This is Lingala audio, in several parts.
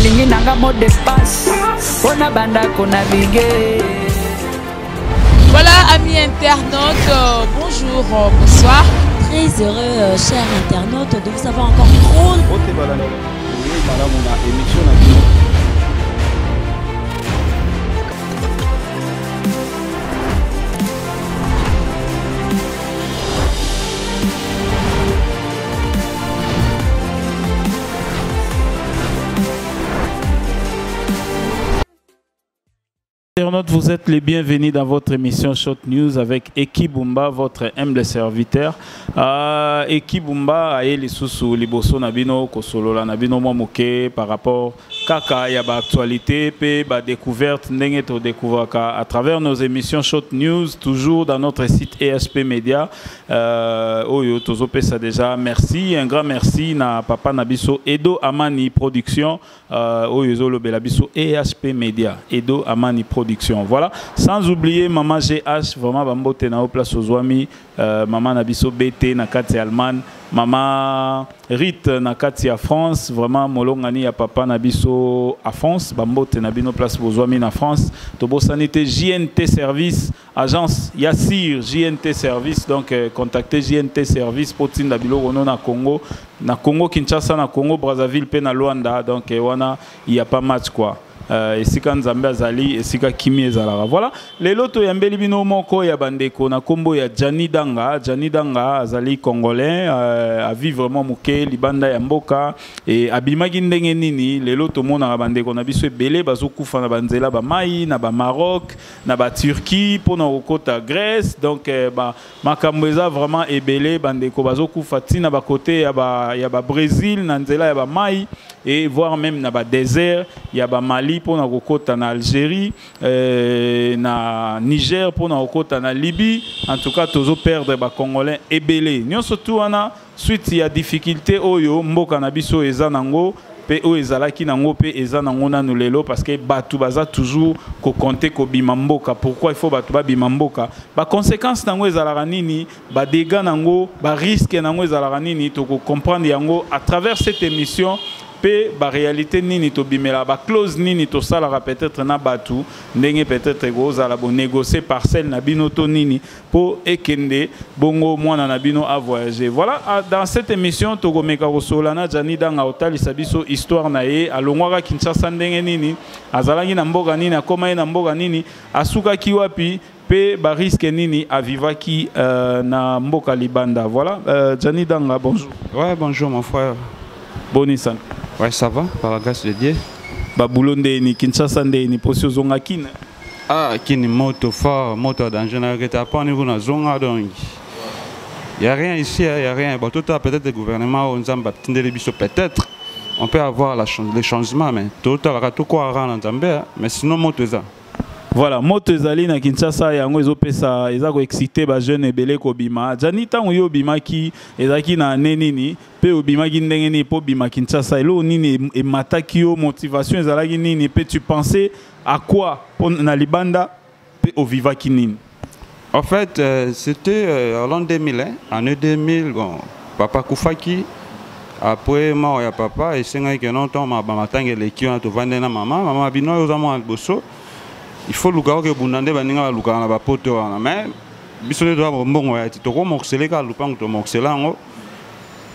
nalingi nanga mot de passe mpo na bandako na bige Voilà, amis internautes, euh, bonjour, euh, bonsoir. Très heureux, euh, chers internautes, de vous avoir encore trop. Internautes, vous êtes les bienvenus dans votre émission Shot News avec Eki Bumba, votre humble serviteur. Euh, Eki Bumba a les sous liboso nabino kosolola nabino mwa moke par rapport kaka ya ba actualité pe ba découverte ndenge to découvraka à travers nos émissions Shot News toujours dans notre site ESP Media Euh, oyo tozopesa déjà merci un grand merci na papa na biso edo amani production euh, oyo ezolobela biso ehp media edo amani production voilà sans oublier maman gh vraiment bambote na yo place ozwami euh, mama na biso bt na kati ya allemagne mama rite na kati ya france vraiment molongani ya papa na biso afrance bambote na bino place bozwami na france tobosani te jnt service agence ya sir jnt service donc euh, contacte jnt service mpo tinda biloko no na congo na congo kinshasa na congo brazzaville mpe na luanda donc euh, wana ya pas match quoi euh, esika nzambe azali esika kimi ezalaka voilà lelo toyambeli bino moko ya bandeko na nkombo ya jani danga jani danga azali congolais euh, avi vraiment moke libanda ya mboka e abimaki ndenge nini lelo tomonaka bandeko na biso ebele bazokufa na banzela bamai na bamaroc na ba Turquie mpo na kokota Grèce donc eh, ba makambo eza vraiment ebele bandeko bazokufa ntina ba côté ya ba ya ba Brésil na nzela ya ba mai et voire même na ba désert ya ba Mali mpo na kokota na Algérie eh, na Niger mpo na kokota na Libye en tout cas tozo perdre ba Congolais ebele nyonso tu wana Suite ya difficulte oyo mboka na biso eza nango pe oyo ezalaki nango pe eza nango nanu lelo parce que batu baza toujours ko compter ko bima mboka pourquoi il faut batu ba bima mboka ba conséquences nango ezalaka nini ba dégâts nango ba risques nango ezalaka nini toko comprendre yango à travers cette émission pe ba réalité nini to bimela ba clause nini to salaka peut-être na batu ndenge peut-être ko zala bo négocier parcelle na bino to nini po ekende bongo mwana na bino a voyager voilà ah, dans cette émission tokomeka kosola na Jani Danga otalisa biso histoire na ye alongwaka Kinshasa ndenge nini azalaki na mboka nini akoma ye na mboka nini asukaki wapi pe ba risque nini avivaki euh, na mboka libanda voilà euh, Jani Danga bonjour ouais bonjour mon frère boni sana ouais ça va par la grâce de Dieu ba boulot ndeni Kinshasa ndeni posi ozonga kina ah kini moto fort moto ya danger na yoki te apani kuna zonga donc ya rien ici ya rien bato tala peut-être gouvernement oyo nzambe atindeli biso peut-être on peut avoir la, le changement mais totalaka tokoara na nzambe hein. mais sinon moto eza voilà moto ezali na kinshasa yango ezopesa eza koexcite bajeune ebele kobima jani ntango yo obimaki ezalaki na ane nini mpe obimaki ndenge nini mpo obima kinshasa eloko nini emataki yo motivation ezalaki nini mpe tu pensais À quoi Pour na libanda pe au viva kinini En fait, euh, c'était euh, en l'an 2000, hein, année 2000, bon, papa Koufaki, après mort ya papa, et c'est que non, tant ma bamatang et l'équipe, on a tout vendu na maman, maman bino, yo zamo alboso, il faut luka que bundande baninga luka na bapoto wana, mais biso nde toa bombongo ya ti toko morceleka lupango to morcelango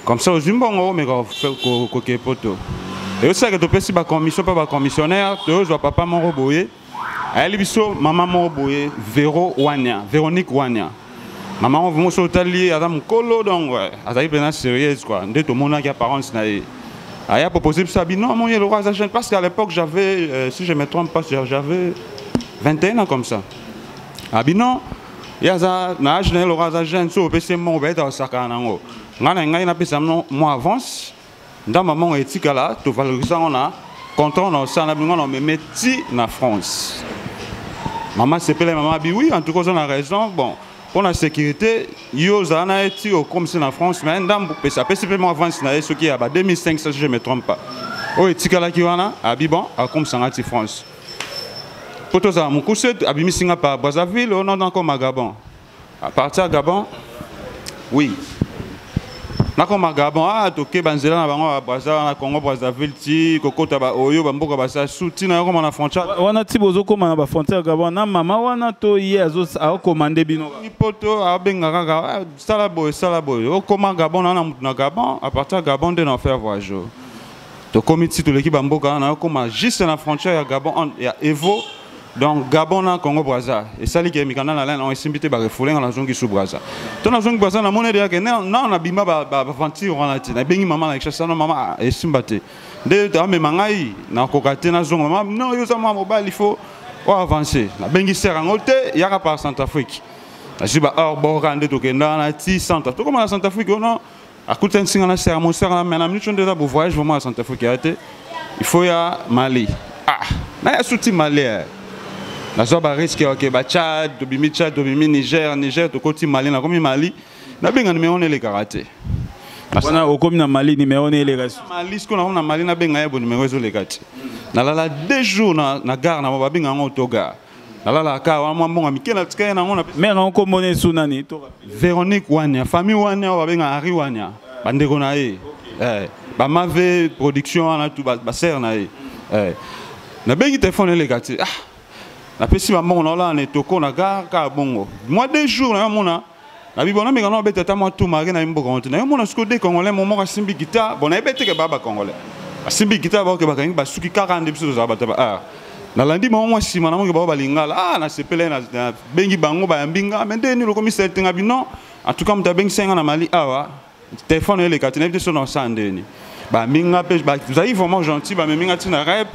comme ça ozwi mbongo omeka kokee poto eyosilaka topesi bacommission mpe bacommissionnaire toyozwa papa moko boye ayeli biso mama moko boye vero wania véronique wania mama yango vraimen soki otali ye aza mokolo donc azali mpenza sérieuse kua nde tomonaki apparence na ye aya propose biso abi non amoni eloko aza jeune parce qu'à l'époque j'avais euh, si je me trompe pas j'avais 21 ans comme ça abi non ye aza na age na ye eloko aza jeune soki opesi ye mbongo bayeta kosakana na yango ngai na ngai napesa bino mwa avance ndamba mongo etikala tovalorisa yango na contrat na osala na bino na omeme ti na france mama sepele mama abi oui en tout cas oza na raison bon mpo na sécurité yo ozala na ye ti okomisi na france mais ndambo pesa apesi mpe mwa avance na ye soki ya ba 2005 si je me trompe pas oyo etikalaki wana abi bon akomisa ngai ti france mpo tozala mokuse abimisi ngai pa brazzaville ononakoma gabon à partir gabon oui nakoma gabon a ah, toke banzela na bango ya braza wana congo brazzaville ti kokota baoyo bamboka basa su ntina yakoma na frontière wana ti bozokoma na bafrontière gabon na mama wana to ye akokoma nde bino poto abenga kaka ah, sala boye sala boye okoma gabon na na motu na gabon à partir ya gabon nde na faire voyage tokomi ti toleki bamboka wana nakokoma juste na frontière ya gabon ya evo donc gabon na congo braza esali ke mikanda na lene esimbi te barefoule nga nazongi su braza to nazongi braza namoni ete yake nao nabima baventure wana te nabengi mama na kinshasa no mama ah, esimba te nde amema ngai nakoka te nazonga mama no yo oza mwa mobali fo oavance nabengi ser yango te yaka par centrafrique nazwi baheure bora nde tokenda wana ti centre tokoma na centrafrique ono akutanisi nga na sera mosaka na mena micho nde eza bo voyage vraiment ya santa afrika ya te il faut ya mali ah na ya suti mali eh. nazwa bariske oke bachad tobimi chad tobimi niger niger tokoti mali nakomi mali nabenga nimero nelekaka te wana okomi na mali nimero ne eleka mali sikoyo nango na mali nabenga ye bo nimero ezoleka te nalala deux jours na, na gare na babenga yango to gare nalalaka kaka wana mwa mbongo mike natika ye nango mare yango nkombo na esu nani véronique wania famille wania oyo babenga henri wania bandeko na ye eh, bamave production wana tu basere na ye eh, nabengi telefone eleka te ah, napesi bambongo naolala na etoko na gare kaka bongo mwa deux jours nayomona na bibo na mekana obeta ata mwa tu marke na ye mboka moto na yo mona sikoyo de congolais mo moko asimbi gita bon na ye beteke baa bacongolais asimbi gita baoke bakangi basuki kaka nde biso tozala bato ba nalandi bango mwa nsima na moke bango balingala a nasepela ye nabengi bango bayambi nga me nde nini lokomi setenga bino en tout cas moto abengisa ye nga na mali awa Téléphone oyo elekati nayebi te so naosala ndeni bamemi nga mpe bazali vraiment gentil bamemi nga ntina rep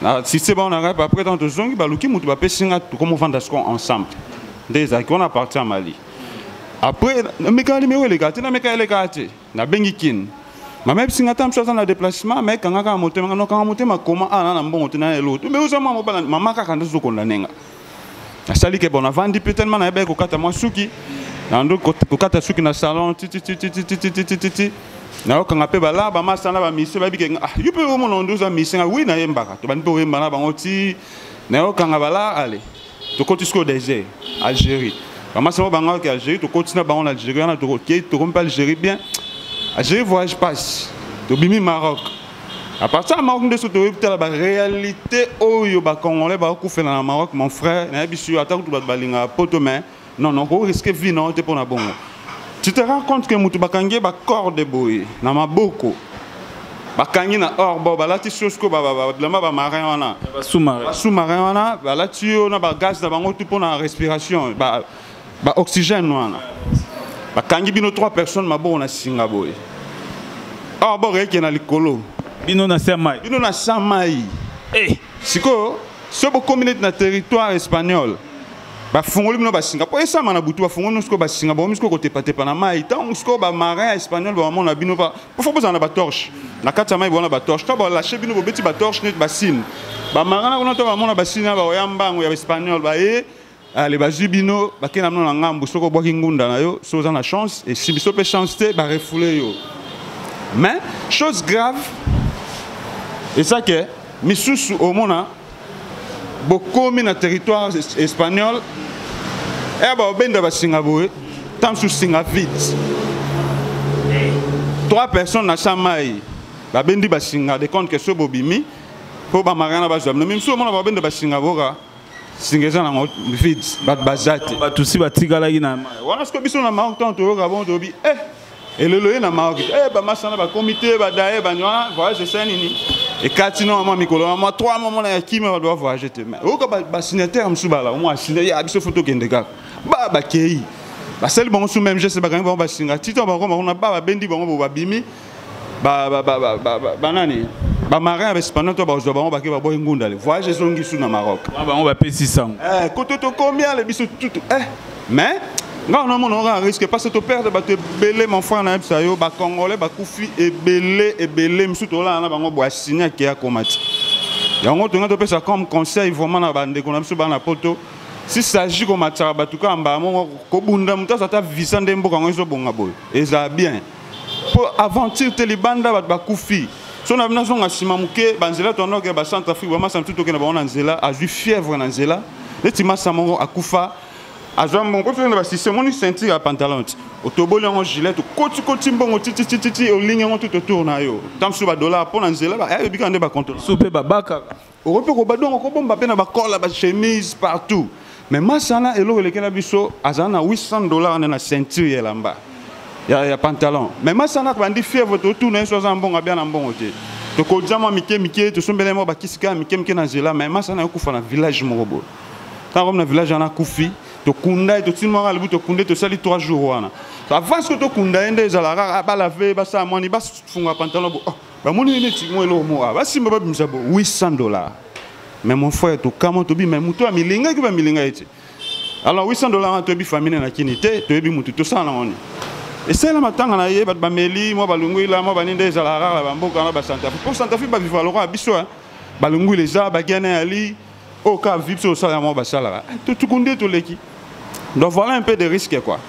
nasiste bango na rep après ntango tozongi baluki moto bapesi nga tokomofanda siko ensemble nde ezalaki wana parti ya mali après namekaka nimero elekaka te namekaka elekaka te nabengi kine mama yebisi nga ta mosusu aza na déplacement ma ekangaka motema nga nokanga motema koma ana na mbongo te na eloko te mbe oza mwa mobala mama kaka nde zokonda nenga nasali ke bon navandi mpe tellement nayebaki kokata mwa suki nando kokata suki na salon tititititititititi nayokanga mpe balaba masa na bamisie bayebi ke ah, yo mpe omona ondo oza misie ngai wi nayembaka tobandi mpe oyemba na bango ti nayokanga bala ale tokoti sikoyo désert algérie bamasi yango bangaka ke algérie tokoti na bango na algérie wana tokokei tokomi mpe algérie bien algérie voyage passe tobimi maroc À partir de Maroc, nous avons la réalité où les Congolais vont couper dans le Maroc, mon frère. Nous avons attaqué tout le monde à Poto, mais non, non, on risque de vivre dans le Bongo. Tu te rends compte que nous avons des corps de boy, dans ma boko. bakangi na or bo balati sosko bilamba bamarin wana sous-marin wana balati yo na bagaz na bango tu mpo na respiration ba oxygène wana bakangi bino trois personnes maboko na singa boye awa ah, boko eke na likolo bino na sa mai bino na sa mai hey. Eh. sikoyo soki bokomi neti na territoire espagnol bafungoli bino basinga mpo esama na butu bafungoli bino sikoyo basinga bakomi sikoyo kotepatepa na mai ntango sikoyo bamarin ya espagnol bamamona bino pofo bozala na batorche na kati ya mai bona batorche to balashe bino bobeti batorche neti basine bamarin na kuna to bamona basine na baoya mbango ya espagnol baye ale ah, bazwi bino bakei na bino na ngambu soki obwaki ngunda na yo soki oza na chance esimbi so mpe chance te barefoule yo mais chose grave eza ke misusu omona bokomi na territoire espagnol eya eh, baobenda basinga boye ntango mosusu singa vite trois personnes na sa mai babendi basinga de compte ke so bobimi mpo bamarana bazwa bino mimisusu omona baobenda basinga boka singa eza nango vide bato baza te bato si batikalaki na wana siko biso na maroc ntango toyoka bongo tolobi e elelo ye na maroc te e bamasana bakomi te badaye bani wana voyage esala nini ekati no mwa mikolo na mwa 3 mwa mwana ya kimia bato bavoyage te mai oyoka basignatere mosusu bala omo asina ya biso fo tokende kaka ba bakei basali bango su meme geste bakangi bango basinga tito bakoma kuna ba babendi bango bo babimi ba ba ba ba ba, ba, ba nani ba marin respondant to bazwa bango bake baboyi ngunda le voyage ezongi su na Maroc ah, bango bapesi sango eh kutu tokomi ale biso tutu eh mais ngai namona oka risque parce to perdre bato ebele mon frère nayebisa yo bacongolais bakufi ebele ebele mosusu tolala na bango boya signe ake akoma ti yango tongai topesa comme conseil vraiment na bandeko na biso bana poto si s'agit komatisaka bato kaka mbala moko kobunda moto aza ata visa nde mboka yango ezobonga boye ezala bien mpo aventure te libanda bato bakufi so na bino azonga nsima moke banzela toandokela bacentre afrique bamasa mosusu tokenda bango na nzela azwi fièvre na nzela neti masa moko akufa azwa mbongo mpo tokenda basiste omoni ceinture ya pantalon ti otoboli yango gilet okotikoti mbongo tititititi olingi yango tout autour na yo ntango mosusu badollar mpo na nzela ayebikaka nde bacontrole so mpe babakaka okoki mpe koba dongo kobomba mpe na bakola bachemise partout mais masana eloko elekela biso azala na 800 dollar nde na ceinture ya elamba ya, ya pantalon mais masana bandi fièvre totuna ye so aza na mbongo abia na mbongo te tokodia mwa mike mike tosombela ye mwa bakisi kaka mike mike na nzela mais masana yokufa na village moko boye ntango komi na village wana akufi tokunda ye totindi mwanga libu tokunda ye tosali 3 jours wana avance ko tokunda ye nde ezalaka balave basala mwani bafunga pantalon bo oh. bamoni ye neti mwa eloko moko basimba babimisa bo 800 dollars mais mon frère tokama tobi mais moto ya milinga eki bamilinga ye te alors 800 dollars wana toyebi famine na kini te toyebi motu tosala na ngoni esala matanga na ye bato bameli mwa balunguila mwa baninde ezala rara bamboka na basantafi mpo santafi baviva lokola biso eh. balunguila eza bagene ya li oyo ka vi biso tosala yango basalaka eh, totuku nde toleki donc voilà un peu de risque quoi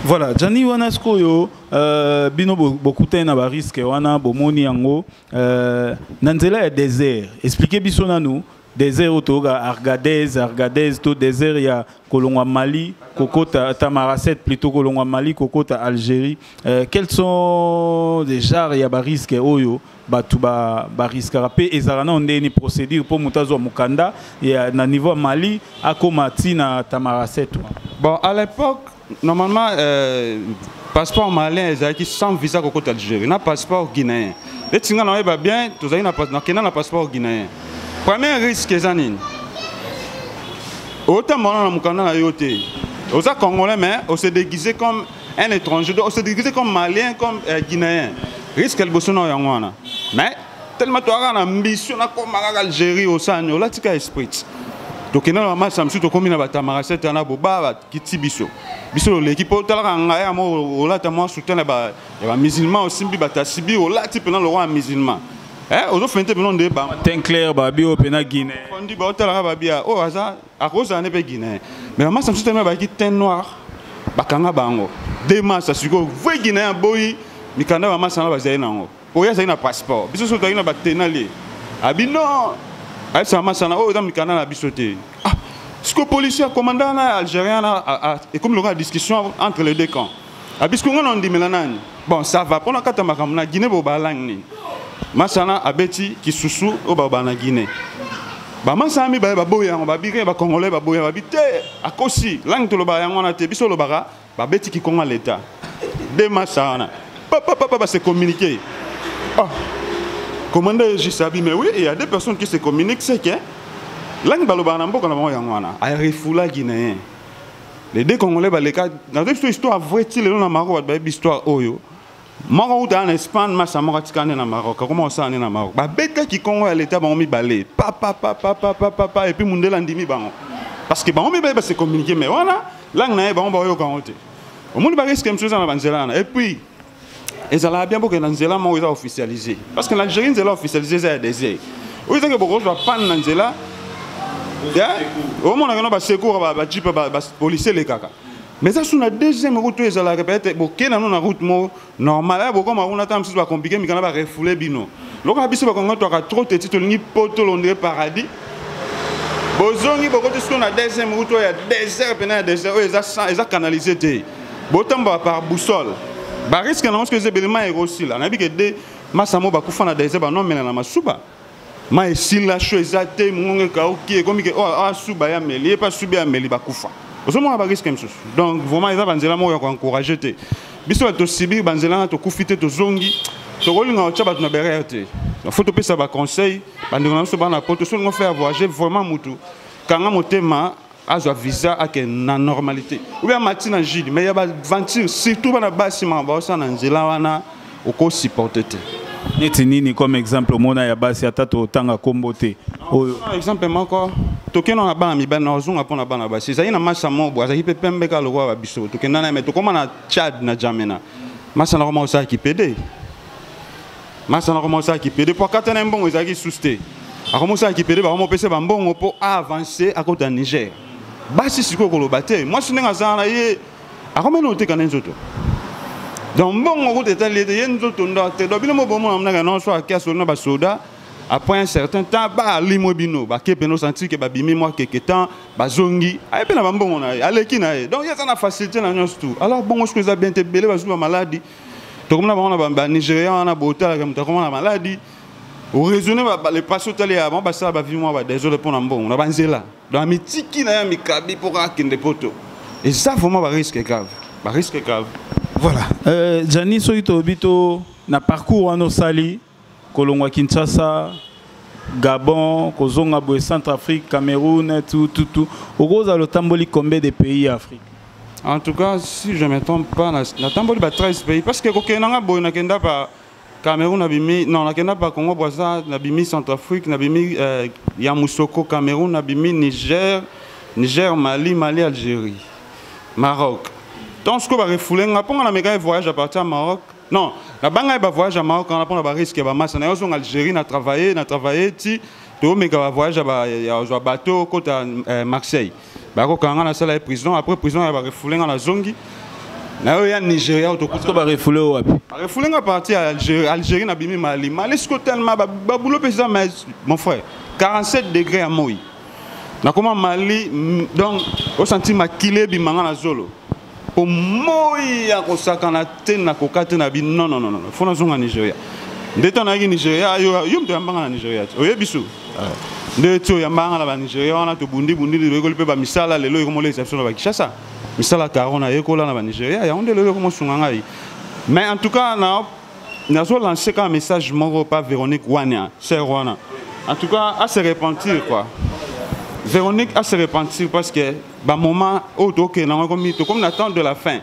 voilà jani wana sikoyo Euh, bino bokutani na bariske wana bomoni yango euh, na nzela ya désert explike biso nanu désert oyo toyoka argadez argadez to désert ya kolongwa mali kokota tamaracet plutôt kolongwa mali kokota algérie euh, quels sont les genres ya bariske oyo bato bariskaka ba mpe ezalaka nao ndeni procédure mpo moto azwa mokanda ya, na niveau ya mali akóma ntina tamaracet bon à l'époque normalement euh, passeport malien ezalaki sans visa kokota algérie na passeport guinéen neti ngai naoyeba bien tozali nakenda na passeport guinéen premier risque eza nini otambola na mokanda na yo te oza congolais mais ose déguise comme un étranger donc ose déguise comme malien comme euh, guinéen risque ya liboso na yango wana mais tellement toyaka na mbisio nakoma kaka algérie osani olatika esprit tokenda na bamasa mosusu tokómi na batamagasete wana boba kiti biso biso loleki mpo otalaka ngai ya moko olata mwa soutien ya bamusulman osimbi batasibi olati mpena lokwa ya musulman eh, ozofende te bino nde batin clair babi oyo mpena guineondi baotalaka babia oyo aza akozala nde mpe guinéen mais bamasa mosusu tami bayaki tin noir bakanga bango de masa sikoyo vrai guinéen aboyi mikanda bamasa yango bazali na yango oyo azali na passeport biso so tozali na batenale abi non ayebisaka masana oyo eza mikanda na biso te ah, siko policier commandant na algérien na ekomi lokola discussion entre les deux camps abi siko ngai na ondimela nani bon ça va mpo na kata makambo na guinée bobalangi nini masana abeti kisusu oyo babala na guinée bamasana mibale baboyi yango babiki bakongolais baboyi yango babi te akosi langi tolobaka yango wana te biso olobaka Babeti kikonga leta. Deux matchs ça wana. Papa papa se communiquer. Oh. Ah. Commandant juste abi mais oui, il y a deux personnes qui se communiquent, c'est que langue balobana mboka na bango yango wana. A refoula guinéen. Les deux congolais baleka dans une histoire vraie ti lelo na maro ba histoire oyo. moko awuta na espagne masa moko atika nde na maroc akoma kosala nde na maroc babetaki kongo ya leta bango mibale papapapapapapa epuis mundele andimi bango parce que bango mibale base communique mais wana langue na ye bango baoyoka yango te omoni bariske mosusu eza na banzela wana epuis ezalaka bien bokenda nzela moko eza officialise parce que na algérie nzela officialise eza ya désir oyo ezaki bokozwa panne na nzela omonaka no basecour bajipe bapolisie elekaka mais eza su na deuxième route oyo ezalaka peut-être boke nano na route moko normal aya bokoma kuna ntango mosusu bakomplike mikana barefoule bino lokola biso bakongo twaka trop teti tolingi poto londre paradis bozongi bokoti siko na deuxième route oyo ya désert mpena ya désert oyo eza canalise te botambola par boussole bariske nango soki eza ebelema ekosila nayebi ke de masamo bakufa na désert banomelana masuba ma esila sho eza te mongongo ekauki ekomi ke oyo oh, asuba ya meli ye mpe asubi ya meli bakufa ozomona bariske mosusu donc vraiment eza banzela moko ya koencourage te biso bato tosibiri banzela na tokufi te tozongi tokolinga kotya bato na berere te fo topesa baconseil bandeko na biso bana poto solingo fe ya voyage vraiment motu kanga motema azwa visa ake na normalité oyo amati na jude mais ya baventure surtout bana basi maka baosala na nzela wana okosupporte te neti nini comme exemple omona ya basi ata totanga nkombo te oyo exemple moko tokenda na bana mibali na ozonga mpo na bana basi ezali na masa mobo azalaki mpe pembe kaka lokola babiso tokenda na ye me tokóma na tchad na jamena masa na koma osalaki pede masa na komosa kipede mpo akata na ye mbongo ezalaki lisusu te akomosa kipede bakomopesa bambongo mpo aavance akota niger basi sikoyo koloba te mwasi ndenge azala na ye akomena oteka na ye nzoto donc mbongo kuta etali ete ye nzoto ndo te donc bino mobomona mnaka nonso ake asoli na basoda après un certain temps baalimwe bino bake mpena osantir ke babimi mwa keke temps bazongi aye mpe na bambongo na ye aleki na ye donc ye aza na facilité na nyonso tout alors bongo soki eza bien te ebele bazwi bamaladi tokomona bango na banigérien wana botalaka moto akoma na maladi oraisonne lepasi otali ya bango basala bavi mwa badesole mpo na mbongo na banzela donc mitiki na ya mikabi mpo kaka akende poto eza vraiment bariske grave bariske grave voilà euh, jani soki tolobi to na parcours wana osali kolongwa kinshasa gabon kozonga boye centre afrique cameroun tututu okozala lotamboli combien de pays ya afrique en tout cas si je me trompe pas natamboli ba 13 pays parce que kokende nanga boye nakenda ba Cameroun nabimi non nakenda pa Congo Brazza nabimi Centrafrique nabimi euh, ya Musoko Cameroun nabimi Niger Niger Mali Mali Algérie Maroc donc sikoyo barefoule nga mpo nga na mekaki voyage à partir ya Maroc Non, na banga ba voyage à Maroc, on a pas ba risque ya ba masse. Na yoso Algérie na travailler, na travailler ti to meka ba voyage ya ba ya zo bateau kota eh, Marseille. Ba ko kanga na sala prison, après prison ya ba refoulé na zongi. Na yo ya Nigeria to ko ba refoulé wapi? Ba refoulé nga parti à Algérie, Algérie na bimi Mali. Mali ce tellement ba, ba boulot pesa mais mon frère, 47 degrés à Moïse. nakoma mali donc osanti makila ebimanga na zolo po moi ya kosakana te na koka te na bino non non non non fo nazonga nigeria nde ntango nayaki nigeria yo yo moto yambanga na nigeria te oyebi su ah. nde ti oyambanga na banigeria wana tobundibundi lelo oyekoli mpe bamisala lelo ekomolekisa biso na bakishasa misala karo nayekola na banigeria yango nde lelo ekomosunga ngai mais en tout cas na nazo lancer kaka message moko pa véronique wania sœur wana en tout cas à se repentir quoi véronique à se repentir parce que ba moment oyo oh, tokende yango ekomi tokomi na temps de la fin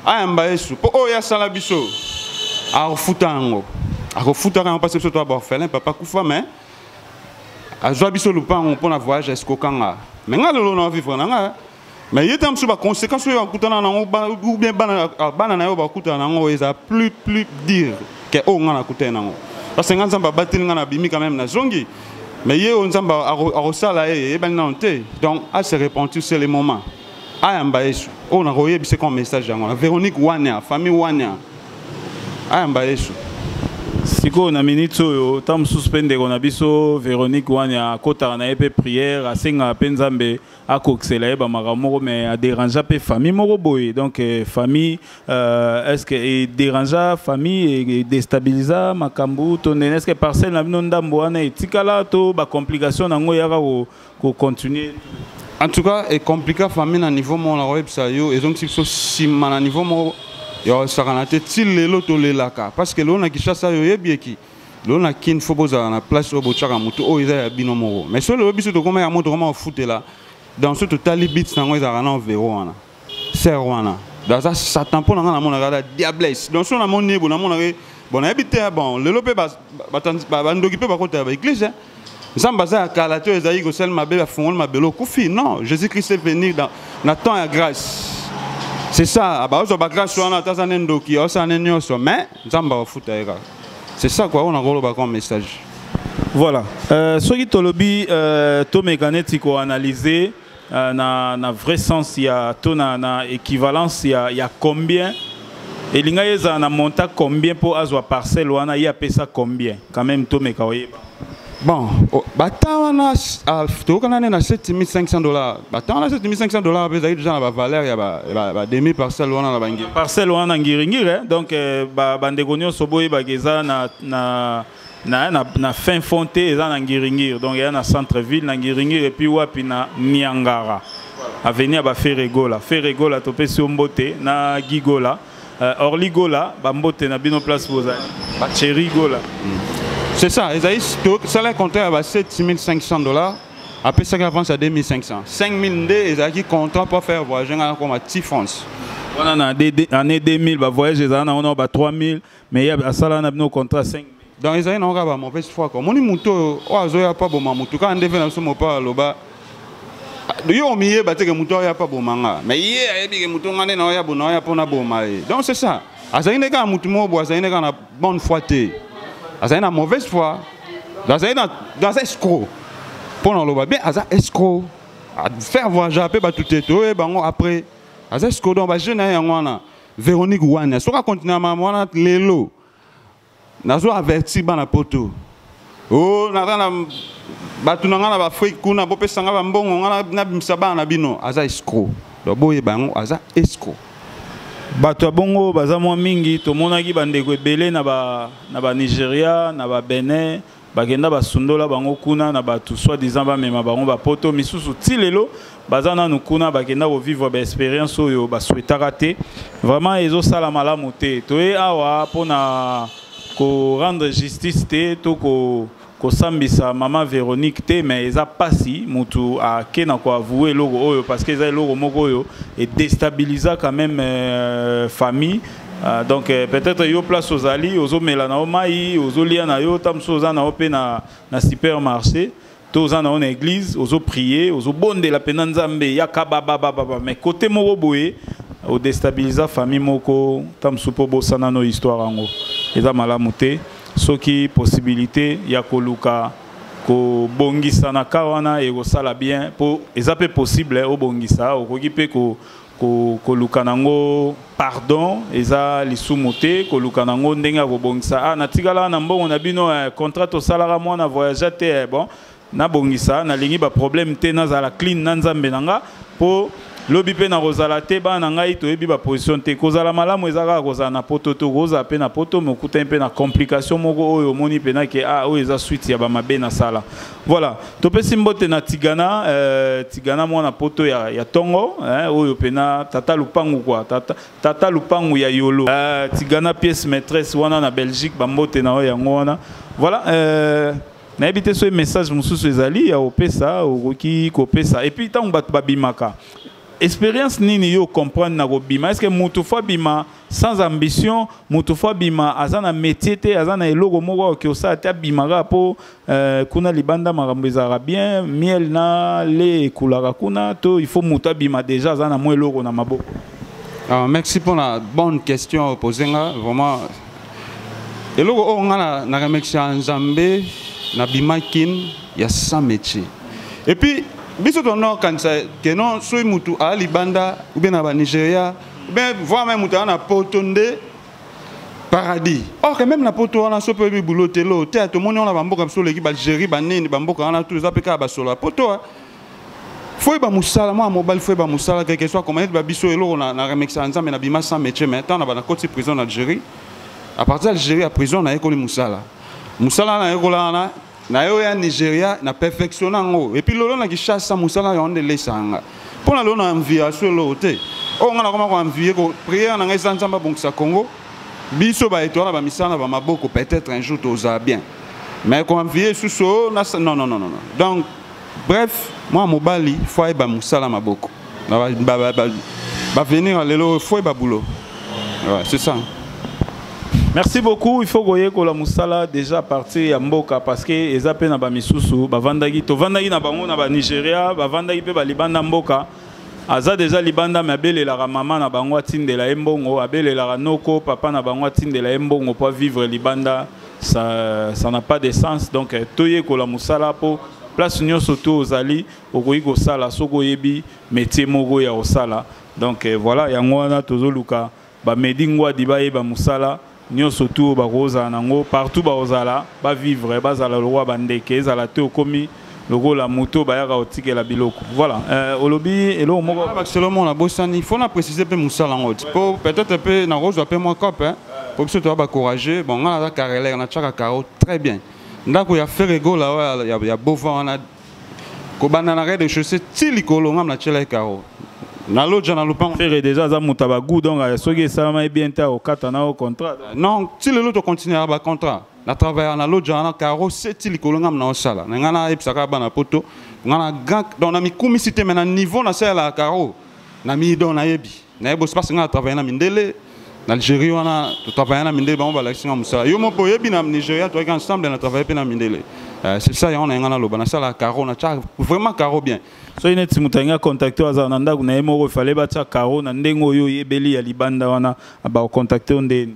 ayamba yesu mpo oyo oh, asala biso akofuta yango akofutaka yango mpasi biso toya baorphelin papa kufa mais azwa biso lupango mpo na voyage ya sikokanga me ngai lelo na vivre na ngai mais ye ntango mosusu baconséquence oyo bakutana nango ou bien bana na yo bakutana nango eza plus plus dire ke oyo ngai nakutani nango parce que ngai nzambe abateli ngai nabimi quand même nazongi mais ye oyo nzambe akosala ye eyebani nano te donc ase repentir c'est le moment ayamba yesu oyo nakoyebisa koma message yango na véronique wania famille wania ayamba yesu sikoyo na miniti oyo ntango mosusu mpe ndeko na biso véronique wania akotaka na ye mpe prière asengaka mpe nzambe akokisela ye bamakambo moko mais aderangea mpe famille moko boye donc euh, famille euh, est ce que ederangea famille edestabiliza makambo to ndene est ce que parcelle na bino ndambo wana etikala to bacomplication na yango eyaka kocontinue en tout cas ecomplika famille na niveau moko nakoyebisa yo ezongisi biso nsima na niveau moko ya kosakana te ti lelo tolelaka parce que lelo na kishasa yo oyebi eki lelo na kin fo bozala na place oyo botyaka motu oyo eza ya bino moko mais so lelo biso tokoma yango tokoma kofutela dans so totali bits na yango ezalaka na overo wana ser wana aza satan mpo na ngai namonaka aza diables donc so namoni ye bo namonaka ye bon nayebi te bon lelo mpe bandoki mpe bakotala baeglise nzambe aza ya kala te oyo ezalaki kosali mabe bafungoli mabele okufi non jésus christ est venu dans, na temps ya grâce c'est ça baozwa bagrâce wana ata aza ne ndoki aosala ne nyonso mais nzambe akofuta ye kaka c'est ça kua oyo nakoloba comme message voilà euh, soki tolobi euh, tomeka neti koanalyse Euh, na, na vrai sens ya to na, na équivalence ya, ya combien elinga ye ezala na monta combien mpo azwa parcelle wana ye apesa combien quand même tomeka oyeba bon bata wana tokokana nde na 7500 dollars bata wana 7500 dollars mpe ezalaki deja na bavaleur ya bademi parcelle wana na bangiri parcelle wana na ngiringiri eh? donc euh, bandeko nyonso boyebaka eza na, na na na, na fin fond te eza na ngiringiri donc eya na centre ville na ngiringiri epuis wapi na niangara avenue ya baferegola feregola topesi yo mbote na gigola uh, eh, orli gola bambote na bino place bozali cheri gola mm. c'est ça ezali tosala compte ya ba 7500 dollars apesaki avance ya 2500 5000 nde ezalaki contrat pour faire voyage ngai nakoma ti france wana na année 2000 bavoyage ezala nango na ba 3000 mais ya asala na bino contrat 5 donc ezali nango kaka bamauvaise foi ko omoni motu oyo oyo azoya mpo aboma motu kaka nde mpe na biso mopao aloba yo omiyeba teke motu aoya mpo aboma nga mais ye ayebi ke motu nga nde naoya bo naoya mpo naboma ye donc c'est ça azali nde kaka motu moko bo azali nde kaka na bonne foi te azali na mauvaise foi azali na aza escro mpo na oloba bien aza escro faire voyage mpe bato te toyeba yango après aza escro donc bajeune na ye yango wana Véronique Wanya soki akontinue na makambo wana lelo nazo avertir bana poto o oh, naza na bato na ngai na baafrike kuna bopesa ngai bambongo ngai nabimisa bana na bino aza escro donc boyeba yango aza escro bato ya bongo baza mwa mingi tomonaki bandeko ebele na banigeria na babenin bakenda basundola bango kuna na bato soit disant bamema bango bapoto misusu ti lelo baza nanu kuna bakenda kovivre baexpérience oyo baswetaka te vraiment ezosala malamu te toye awa mpona korendre justice te to ko kosambisa mama véronique te mais eza mpasi motu ake na koavoue eloko oyo parce que eza eloko moko oyo edestabiliza quand même euh, famille Ah, donc euh, peut-être yo place ozali ozomela na yo mai ozolia na yo ta mosusu oza na yo mpe na, na supermarché to oza na yo na église ozopriye ozobondela mpenza nzambe yaka bababababa mais kote moko boye odestabiliza famille moko ta mosusu mpo obosana no histoire yango eza malamu te soki possibilité ya koluka kobongisa na ka wana ekosala bien mpo eza mpe possible obongisa okoki mpe ko koluka nango pardon eza lisumu te koluka nango ndenge ya kobongisa ah natikala na mbongo na bino eh, contrat tosalaka mwana voyage te eh, bon nabongisa nalingi baproblème te nazala clean na nzambe na nga mpo lobi mpe nakozala te bana na ngai toyebi baposition te kozala malamu eza kaka kozala na poto te okozala mpe na poto mokutani mpe na complication moko oyo omoni mpena ke a ah, oyo eza suite ya bamabe nasala Voilà, topesi mbote na Tigana, euh, Tigana mwana poto ya, ya tongo, hein, oyo pena tata lupangu quoi, tata, tata lupangu ya yolo. Euh, Tigana pièce maîtresse wana na Belgique, ba mbote na oyo yango wana. Voilà, euh, nayebi te soki message mosusu ezali ya opesa okoki kopesa epuis ntango bato babimaka expérience nini yo comprendre na kobima est-ce que mutu fo abima sans ambition mutu fo abima aza na métier te aza na eloko moko oyo kiosala te abima kaka mpo Euh, kuna libanda makambo ezalaka bien miel na le ekulaka kuna to il faut moto abima déjà aza na mwa eloko na maboko ah, merci mpo na bonne question opose nga vraiment eloko oyo nga na, na remercia nzambe na bima kin ya sans métier et puis biso tono kanisa ke non soki motu aa libanda oubien na banigeria oubien voir mai moto aa na poto nde paradis or que même na poto wana so mpe oyebi bulo te lo te tomoni wana bamboka biso oleki balgérie banini bamboka wana tu eza mpe kaka basolo ya poto ah. foyeba mosala mwana mobali foyeba mosala quelque soit comment ba biso eloko na, na remexaka nzambe na bima sans métier mais ntango na bana koti prison na algérie à partir ya algérie ya prison nayekoli mosala mosala nayekola wana na yo ya nigeria na perfectiona yango epuis lolo na kishasa mosala yango nde lesanga mpo na lolo na envie aso eloko te oyo ngai nakoma koenvie priere na ngai eza nzambe abongisa congo biso baetoile na bamisala na bamaboko peut-être un jour tozala bien mais koenvie esusu oh, non, non, non, non. donc bref mwana mobali fo ayeba mosala maboko bavenir ya lelo oyo fo yeba boulot ouais, c'est ça merci beaucoup il faut koyekola mosala déjà à partir ya mboka parce que eza mpe na bamisusu bavandaki tovandaki na bango na banigeria bavandaki mpe balibanda mboka aza deja libanda me abelelaka mama na bango atindela ye mbongo abelelaka noko papa na bango atindela ye mbongo mpo avivre libanda ça, ça n'a pas de sens donc eh, toyekola mosala mpo place nyonso to ozali okoki kosala soki oyebi métier moko ya kosala donc eh, voilà yango wana tozoluka bamedi ngwadi bayeba mosala nyonso tu oyo bakozala nango partout bakozala bavivre bazala lokola bandeke ezala te okomi lokola moto bayaka kotikela biloko voilà euh, olobi eloko moko ah, seulement nabosani fo na précise mpe mosala yango ti mpo peut-être mpe nakozwa mpe mwa cope mpo biso toya bacourageux bon ngai naza carrelere natyaka caro très bien ndako ya fere gola oyo ya, ya bovan wana kobanda na rede chaussé ti likolo ngai natyelaki caro na lodja na lopango fere déjà aza moto ya bagout donc soki esalamaki bien te akokata na yo contrat non ti lelo tocontinuaka bacontrat na travaillaka na lodja wana caro seti likolo ngai mna osala na ngai nayebisaka bana poto ngai na grand donc namikumisi te mai na niveau nasalelaka caro na midon nayebi nayebi osipasi ngai na travaille na mindele na algérie wana totravaille na mindele bango balakisi ngai mosala yo moko oyebi na nigeria toyaki ensemble na travaille mpe na mindele euh, c'est ça yango na ye ngai naloba nasalaka caro natya vraiment caro bien soki neti moto alingi acontacte oyo azala na ndako na ye moko efale batya caro na ndenge oyo oyebeli ya libanda wana bakocontacte yo ndeni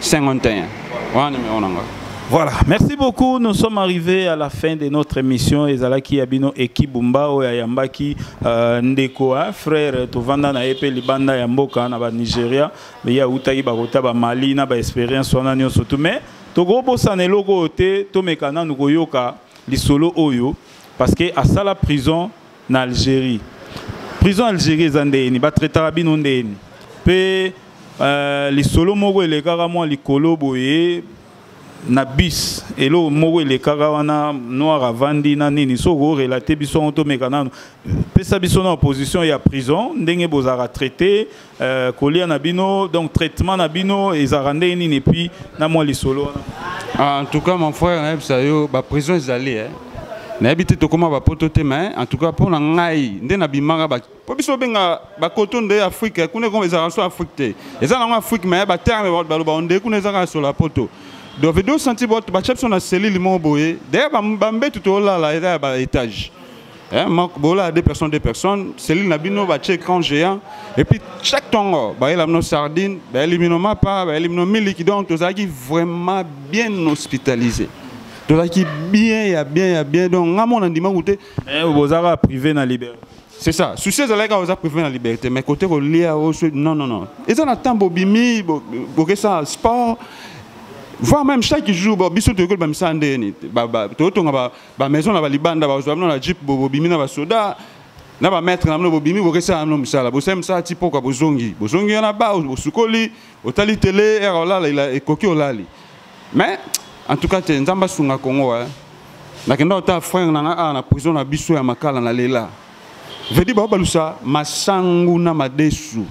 51 wana numero na nga Voilà, merci beaucoup. Nous sommes arrivés à la fin de notre émission. Ezalaki Abino Eki Bumbao ya Yambaki euh, Ndeko, hein, frère Tovanda na Epe Libanda ya Mboka na ba Nigeria, mais ya utaki ba kota ba Mali na ba expérience wana nyonso tout mais toko bosana eloko te tomeka nanu koyoka lisolo oyo parce que asala prison na algérie prison algérie eza ndeni batraitaka bino ndeni mpe uh, lisolo moko elekaka mwa likolo boye na bis eloko moko elekaka wana noir avandi na nini soki orelate biso yango tomeka nano pesa biso na opposition ya prison ndenge bozalaka traite Euh, kolia na bino donc traitement na bino ezalaka ndenge nini epuis na mwa lisolo wana ah, en tout cas mon frère nayebisa yo baprison ezali eh. nayebi te tokóma bapoto te mais en tout cas mpo na ngai nde nabimaka mpo biso obenga bakoto nde afrike kuna ekoma ezalaka so afrike te eza nango afrike mais baterme baloba onde kuna ezaka sola poto donc vedo santi batya biso na selile moko boye dayere bambetu tolala eza ya baetage Hein, bola deux personnes, deux personnes, cellule na bino ba chez grand géant et puis chaque tongo ba la mino sardine, ba elimino mapa, ba elimino miliki donc tozaki vraiment bien hospitalisé. Tozaki bien ya bien ya bien donc ngamo na ndima goûter. Eh bozaka privé na liberté. C'est ça. Souci ezalaki oza privé na liberté mais côté kolia oso non non non. Eza na temps bobimi boke ça sport voire même chaque jour biso toyekoli bamisala ndenge nini toyotonga ba maison na ba libanda ba zwa na jeep bobo bimi na ba soda na ba maître na mno bobimi bokesa na msala bosala msala ti poka bozongi bozongi na ba osukoli otali tele era olala ila ekoki olali mais en tout cas te nzamba sunga Congo hein nakenda ota frère na nga ah, na prison na biso ya makala na lela vedi ba balusa masangu na madesu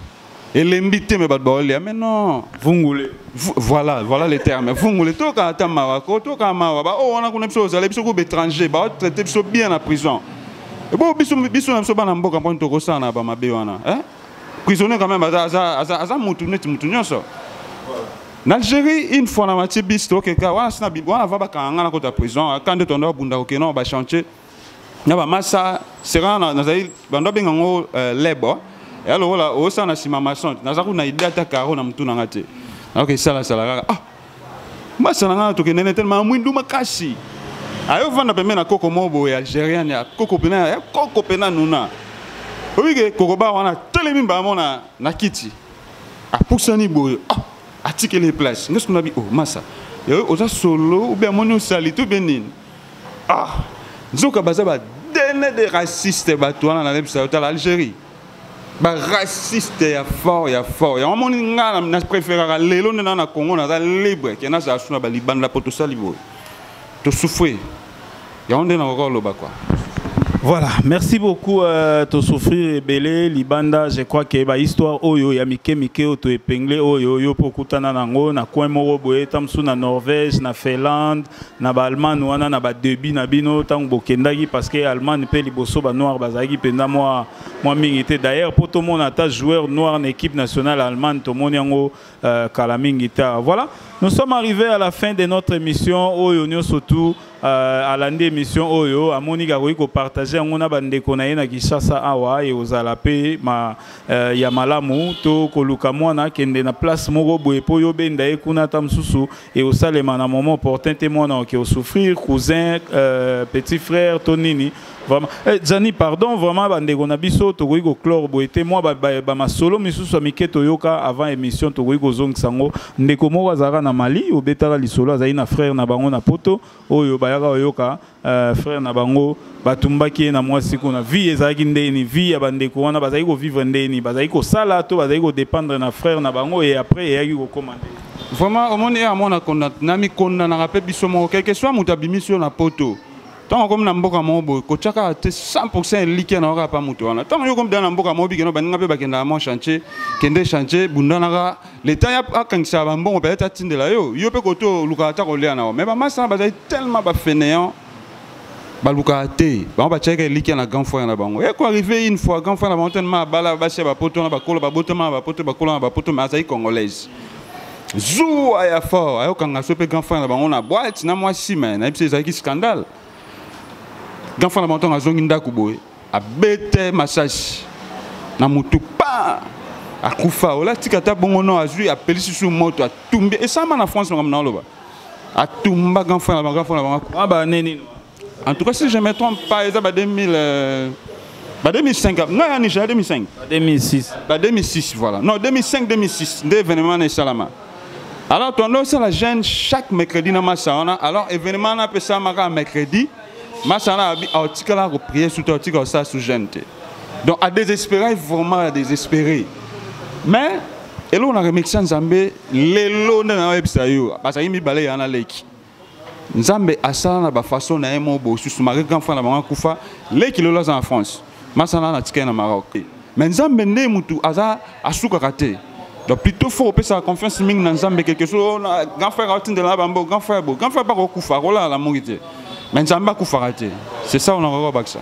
elembi te me bato baolia me non vungule voilà voilà le terme vungule toyoka ata mawa ko toyoka mawa baoyo oh, wana kuna biso ozala biso kuba étranger baotraite biso bien na prison ebo biso biso na biso bana mboka mponi tokosala na bamabe wana eh? prisonnier quand même aza, aza, aza, aza mutu neti mutu nyonso na algérie une fois na matie bis tokeka wana sina wana va bakanga nga na kota prison ka nde tondo abunda kokena bachantier na bamasa sera nazali bando abenga yango euh, lebo ya lokola osala na nsima mason naza kuna ide ata karo na motu na nga te nayoka esalasala kaka ah masa na nga tokende ne telema mwindu makasi ayo vanda pembe na koko moko boye algérienne ya koko pena ya koko pena nuna oyike koko ba wana telemi mbamo na, na kiti apusani boye ah atikeli place ngesukunabi o oh, masa oza solo obe amoni osalite obe nini ah nzoka baza ba dene de raciste bato wana nalebisa yo tala algérie baraciste ya fort ya fort yango amoni ngai na préféraka lelo nde naa na congo naza libre ke nazala su na balibanda mpo tosali boye tosufre yango nde nakoka koloba kua Voilà, merci beaucoup euh, to souffrir ebele libanda je crois que ba histoire oyo ya mike mike oto épinglé oyo yo pokutana nango na coin moko boye tamsu na Norvège na Finlande na ba Allemagne wana na ba debut na bino tango bokendaki parce que Allemagne pe liboso ba noir bazalaki penda moi moi mingi te d'ailleurs pour tout monde ata joueur noir na équipe nationale Allemagne to moni yango euh, kala mingi ta voilà nous sommes arrivés à la fin de notre émission oyo nyo surtout euh, alandi émission oyo amoniki akoki kopartage yango na bandeko na ye na kinshasa awa ekozala mpe ma, euh, ya malamu to koluka mwana akende na place moko boye mpo yo obenda ye kuna ata mosusu et au salema na moment opportun te mwana oke osouffrir cousin euh, petit frère to nini vraiment eh, jani pardon vraiment bandeko na biso tokoki koclore boye te mwa bamasolo ba, ba misusu ya mike toyoka avant émission tokoki kozongisa yango ndeko moko azalaka na mali obetaka lisolo azali na frère na bango na poto oyo bayaka oyoka Euh, frère na bango batumbaki ye na mwasi kuna vie ezalaki ndeni vie ya bandeko wana bazali kovivre ndeni bazali kosala to bazali kodépendre na frère na bango e après eyaki kokoma nde vraiment omoni ye amona namikondanaka mpe biso moko quelque soit moto abimisi yo na poto ntango okomi na mboka moko boye kotyaka te 100 elikya na yoka pa moto wana ntango yo okomi dana na mboka moko bikeno baninga mpe bakendaka mwa chantier kende chantier bundanaka le temps ya akangisaka bambongo peut-être atindela yo yo mpe koto olukaka ata kolia na yo mais bamasi wana bazali tellement bafeneant balukaka te bango batiaka elikya na grand frère na bango eko eh, arrive une fois grand frère na bango tellement abala basi ya bapoto wana bakolo babotama na bapoto bakolo na bapoto mais azali congolaise zuwa ya fort ayokanga so mpe grand frère na bango na boite na mwasi me nayebisa ezalaki scandale grand frère na bango ntango azongi ndako boye abete masasi na motu pa akufa ola tika ata bongo no azwi apelisi su moto atumbi esama na france makambo naoloba atumba grand frère na bango grand frère na bango ah, ba nini en tout cas si je me trompe pas eza ba 2000 euh, ba 2005 ngai ya nigeria 2005 ba 2006 ba 2006 voilà non 2005 2006 nde événement na esalama alors tondo osala jeune chaque mercredi na masa wana alors événement na apesamaka mercredi masa wana alobi aotikalaka koprie sutu aotika kosala su jeune te donc adésespérai vraiment adésespéré mais eloko na remekisa nzambe lelo nde nayebisa yo bazalaki mibale ya na leki nzambe asala na bafaçon na ye moko bosusu malgré grand frère na bango akufa leki lelo aza na france masana na tika na Maroc mais nzambe nde mutu aza asukaka te donc plutôt faut opesa confiance mingi na nzambe quelque chose oh, grand frère atindela bango grand frère bo grand frère bako kufa akolala na mongi te mais nzambe akufaka te c'est ça on akoki kobakisa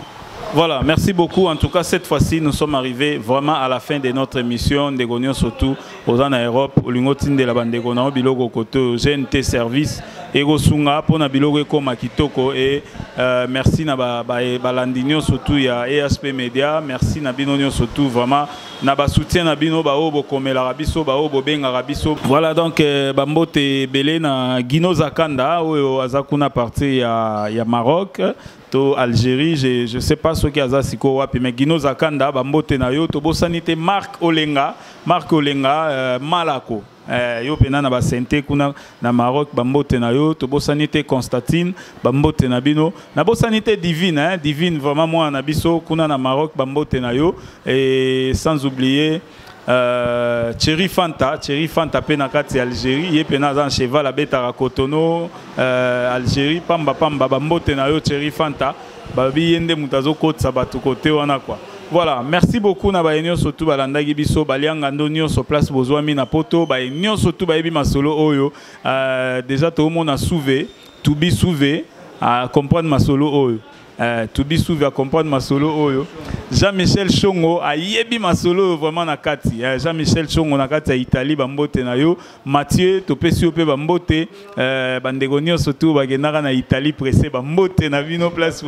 Voilà, merci beaucoup. En tout cas, cette fois-ci, nous sommes arrivés vraiment à la fin de notre émission. Ndegonion surtout, oza na europe olingi otindela bandeko na yo biloko kote oyo gnt service ekosunga mpo na biloko ekóma kitoko e uh, merci na balandi ba, ba nyonso tu ya asp media merci na bino nyonso tu vraiment na basoutien na bino baoyo bokomelaka biso baoyo bobengaka biso voilà donc euh, bambote ebele na gino zakanda oyo aza kuna parti ya, ya maroc to Algérie je je sais pas soki aza siko wapi mais Gino Zakanda ba mbote na yo to bosani te Marc Olenga Marc Olenga euh, Malako eh, yo pena na ba sente kuna na Maroc ba mbote na yo to bosani te Constantine ba mbote na bino na bosani te Divine hein Divine vraiment moi na biso kuna na Maroc ba mbote na yo et sans oublier Euh, Thierry Fanta, Thierry Fanta pe na kati Algérie, ye pe na za cheval abetaka Cotonou, euh, Algérie pamba pamba ba mbote na yo Thierry Fanta, ba bi yende mutazo kotsa batu kote wana quoi. Voilà, merci beaucoup na baye nyonso tu balandaki biso balianga ndo nyonso place bozwami na poto baye nyonso tu bayebi masolo oyo euh, deja toomona suve tubi suve à comprendre masolo oyo Eh, to be suivi à comprendre masolo oyo Jean-Michel Chongo ayebi masolo oyo vraiment na kati eh, Jean-Michel Chongo na kati ya Italie bambote na yo Mathieu topesi yo mpe bambote eh, bandeko nyonso tu bakendaka na Italie presse bambote na bino place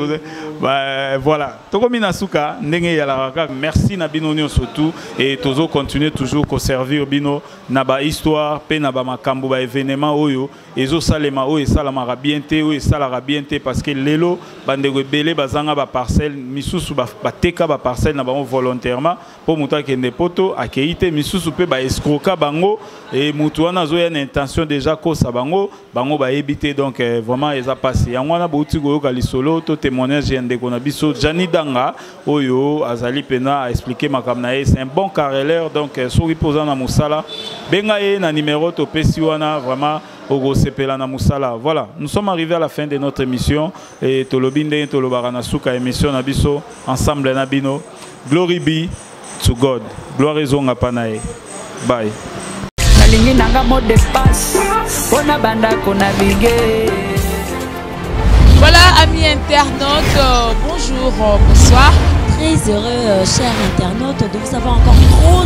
bah, voilà tokomi na suka ndenge eyalaka kaka merci na bino nyonso tu et tozo continuer toujours koservir bino na bahistoire mpe na bamakambo baévénement oyo ezo salema oyo esalamaka bien te oyo esalaka bien te parce que lelo bandeko ebele bazanga ba parcelle misusu bateka ba parcelle na bango volontairement mpo moto akende poto akei te misusu mpe ba escroka bango e moto wana azoya na intention déjà kosa bango bango bayebi te donc eh, vraiment eza mpasi yango wana bouti koyoka lisolo to témoignage ya ndeko na biso jani danga oyo azali pena a expliquer makambo na ye c'est un bon carreleur donc euh, soki mpo oza na mosala benga ye na numéro topesi wana vraiment okosepela na mosala voilà nous sommes arrivés à la fin de notre émission et tolobi ndenge tolobaka na suka émission na biso ensemble na bino glory be to god gloire ezonga mpa na ye bye nalingi nanga mot de passe mpo na bandako na bige Voilà, amis internautes, euh, bonjour, euh, bonsoir. Très heureux, euh, chers internautes, de vous avoir encore trop.